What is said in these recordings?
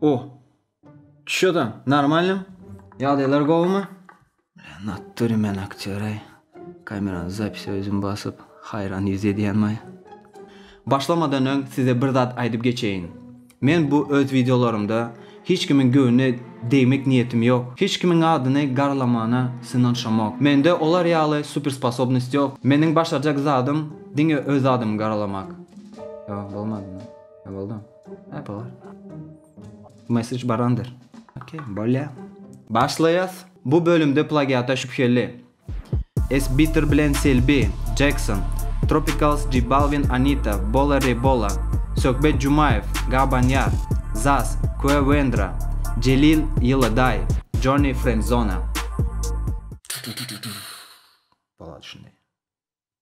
O. Şu da normalnym. Ýagdaýlar gowumy? Natdyry men aktýory. Kamerany zapisi özüm basyp, haýran ýüz edýänmi? Başlamadan öň size bir zat aýdyp geçeýin. Men bu öz wideolarymda hiç kimiň göwnüne degmek niýetim ýok. Hiç kimiň adyny garlamana synanyşamok. Mende olar ýaly super sposobnost ýok. Meniň başarjak zadym diňe öz adymy garalamak. Ýok, bolmadymy? Ýa boldy? Hä, bolar. Bu mesej barandyr. Okey, bolýa. Başlaýas. Bu bölümde plagiata şübheli. S-Bitter bilen Selbi, Jackson, Tropicals J Balvin Anita, Bola Re Bola, Söhbet Jumaýew, Gabanýar, Zaz, Kue Wendra, Jelil, Ýyly Daý, Jony, Friendzona.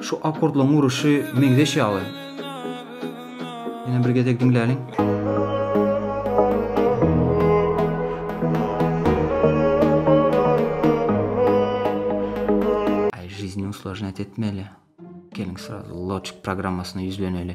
Şu akkordlaryň uruşy meňzeş ýaly. Ýene bir gezek diňläliň. usložnýat etmeli. Geliň srazu Logic programmasyna ýüzleneli.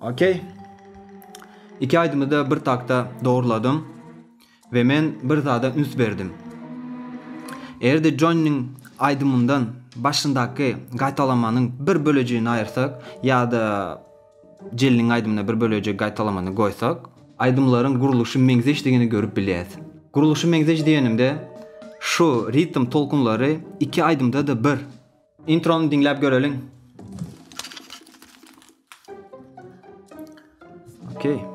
Okey. Iki aýdymy da bir takta dogruladym we men bir zada üns berdim. Eger-de Jonnyň aýdymyndan başyndaky gaýtalamanyň bir bölejigini aýyrsak ýa-da Jeliniň aýdymyna bir bölejik gaýtalamany goýsak, aýdymlaryň gurluşy meňzeşdigini görüp bilýäs. Gurluşy meňzeş diýenimde, şu ritm tolkunlary iki aýdymda-da bir. Introny diňläp göreliň. Okey.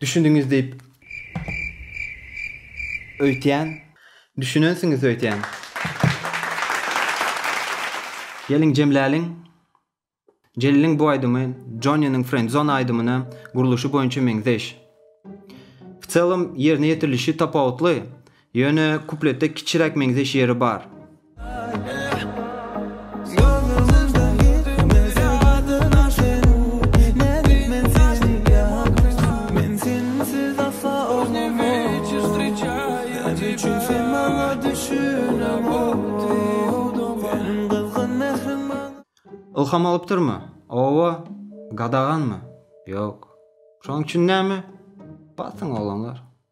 Düşündüňiz diýip öýtýän. Düşünensiňiz öýtýän. Geliň jemläliň. Jeliliň bu aýdymy Jonynyň Friendzone aýdymyna gurluşy boýunça meňzeş. W celom ýerine ýetirilişi tapawutly. Ýöne kupletde kiçiräk meňzeş ýeri bar. Ylham alypdyrmy? Owo. Gadaganmy? Ýok. Şoň üçin näme? Basyň oglanlar.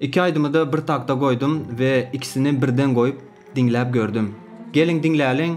Iki aydymy da bir takda goydum ve ikisini birden goyup dinläp gördüm. Gelin dinläliň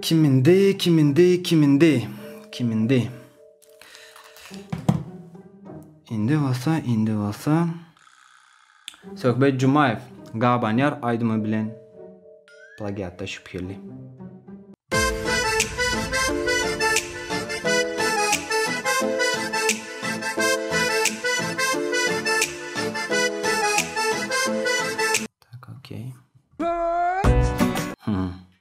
Kim indi, kim indi, kim indi, kim indi. Indi bolsa, indi bolsa. Söhbet Jumaýew, Gabanýar aýdymy bilen plagiatda şübheli.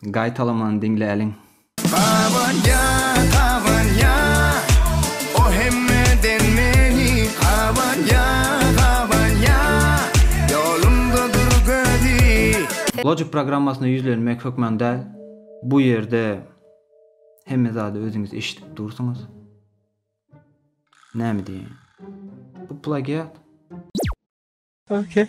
Gaýtalamany diňläliň. Gabanya gabanya o hemmeden meni gabanya gabanya yolumda dur gözi. Logic programmasyna ýüzlenmek hökman däl, bu ýerde hemme zady özüňiz eşidip dursuňyz. Näme diýýän? Bu plagiat. Ok.